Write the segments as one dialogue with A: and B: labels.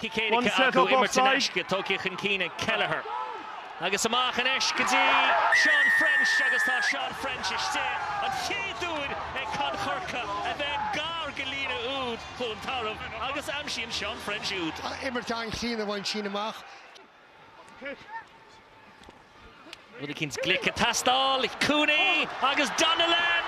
A: Bhí
B: said acu imirt anois. Tógtha chun cinn ag Kelleher agus amach anois go dtí Seán French agus tá Seán French istigh, an chéad úd ag Con Chorca a bheith gar go líne úd Chluain Tarbh agus aimsíonn Seán French úd. Imirt an-chríonna
A: a bhain sin amach.
B: Rud eicínt glic ag teastáil, Cooney agus Donnellan!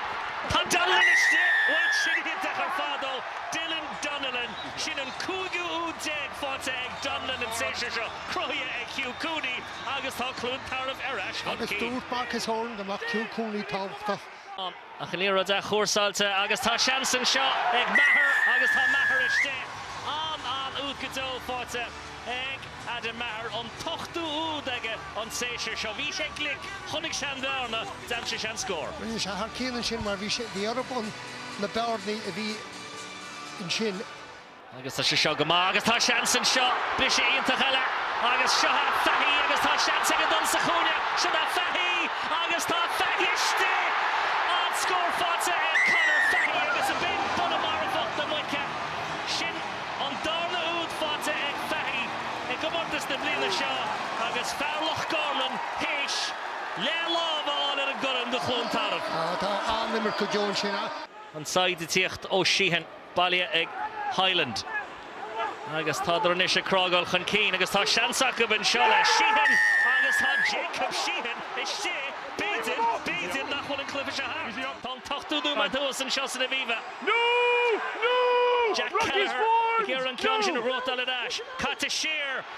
B: Tá Donnellan istigh! Bhuel, sin é ar fad ó Dylan Donnellan. Sin an cúigiú úd déag faighte ag Donnellan an séasúr seo, cruthaithe ag Hugh Cooney agus tá Cluain Tarbh ar ais chun cinn. Agus dúirt Marcus Horan
A: go mbeadh Hugh Cooney tábhachtach. An
B: liathróid athchúrsáilte agus tá seans anseo ag Maher agus tá Maher istigh. An, an úd go deo faighte ag Adam Maher, an t-ochtú úd aige an séasúr seo. Bhí sé glic, chonaic sé an bhearna, d'aimsigh sé an scór. Bhí sé thar cionn ansin
A: mar bhí sé, bhí orthub, na bearnaí a bhí ansin. Agus tá
B: sé seo go maith agus tá seans anseo, briseadh iontach eile agus seo é Fahy agus tá seans aige dul sa chúinne, siod é Fahy agus tá Fahy istigh! An scór faighte ag Conor Fahy agus a b'in buille marfach na muice! Sin an darna úd faighte ag Fahy i gcomórtas na bliana seo agus fear Loch Gorman théis leath lámh a fháil ar an gcorn do Chluain Tarbh. Tá an-imirt
A: go deo ansin. An tsaighdeoireacht
B: ó Sheehan. baile ag Hyland agus tádar anois ag crágáil chun cinn agus tá seans acu anseo le Sheehan agus tá Jacob Sheehan istigh, b'fhéidir, b'fhéidir nach bhfuil an cluiche seo thart. Tá an t-ochtódú nóiméad thuas anseo san Aviva. Jack Kelleher ag iarraidh an ceann sin a ghnóthachtáil ar ais. Caite siar